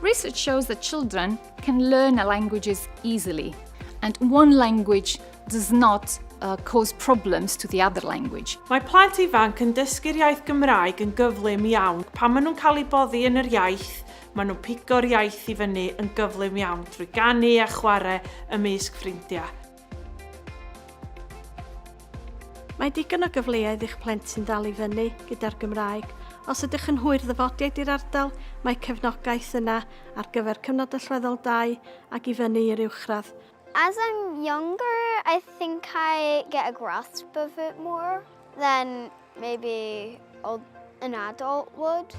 Research shows that children can learn languages easily, and one language does not uh, cause problems to the other language. Mae plant ifanc yn dysgu'r iaith Gymraeg yn gyflym iawn. Pan maen nhw'n cael eu boddi yn yr iaith, maen nhw'n pigo'r iaith i fyny yn gyflym iawn drwy ganu a chwarae ymysg ffrindiau. Mae digon o gyfleoedd i'ch plentyn ddal i fyny gyda'r Gymraeg. Os ydych yn hwyr ddyfodiaid i'r ardal, mae cefnogaeth yna ar gyfer cyfnod allweddol 2 ac i fyny i'r uwchradd. As I'm younger, I think I get a grasp of it more. Then maybe an adult would.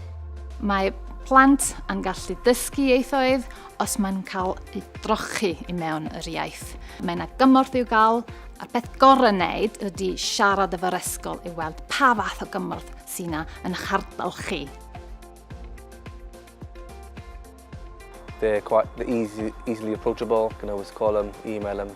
Mae plant yn gallu dysgu ieithoedd os mae'n cael ei drochi i mewn yr iaith. Mae yna gymorth i'w gael, a'r peth gorau wneud ydy siarad efo'r esgol i weld pa fath o gymorth sy'n yna yn eich ardal chi. They're quite they're easy, easily approachable. You can always call them, email them.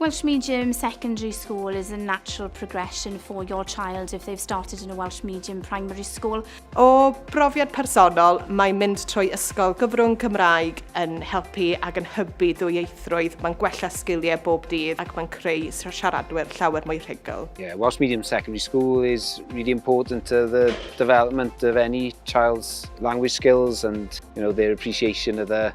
Welsh Medium Secondary School is a natural progression for your child if they've started in a Welsh Medium Primary School. O brofiad personol, mae mynd trwy ysgol gyfrwng Cymraeg yn helpu ac yn hybu dwyieithrwydd, mae'n gwella sgiliau bob dydd ac mae'n creu siaradwyr llawer mwy rhugl. Yeah, Welsh Medium Secondary School is really important to the development of any child's language skills and you know, their appreciation of the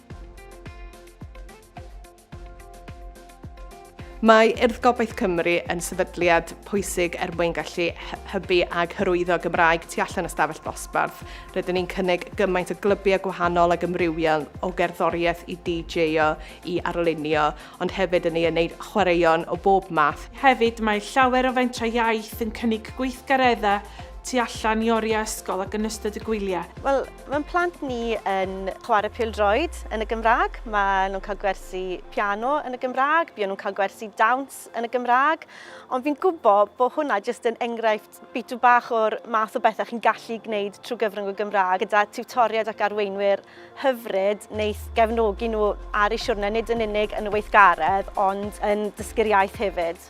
Mae Urdd Gobaith Cymru yn sefydliad pwysig er mwyn gallu hybu ag hyrwyddo Gymraeg tu allan y stafell ddosbarth. Rydyn ni'n cynnig gymaint o glybiau gwahanol ag ymrywiol o gerddoriaeth i DJ-o i arlunio, ond hefyd yn ei wneud chwaraeon o bob math. Hefyd, mae llawer o fentrau iaith yn cynnig gweithgareddau tu allan i oriau ysgol ac yn ystod y gwyliau. Wel, Mae'n plant ni yn chwarae pildroed yn y Gymraeg, maen nhw'n cael gwersi piano yn y Gymraeg, buon nhw'n cael gwersi dawns yn y Gymraeg, ond fi'n gwybod bod hwnna jyst yn enghraifft bitw bach o'r math o bethau chi'n gallu gwneud trwy gyfrwng y Gymraeg gyda tiwtoriaid ac arweinwyr hyfryd wneith gefnogi nhw ar eu siwrne nid yn unig yn y weithgaredd ond yn dysgu'r iaith hefyd.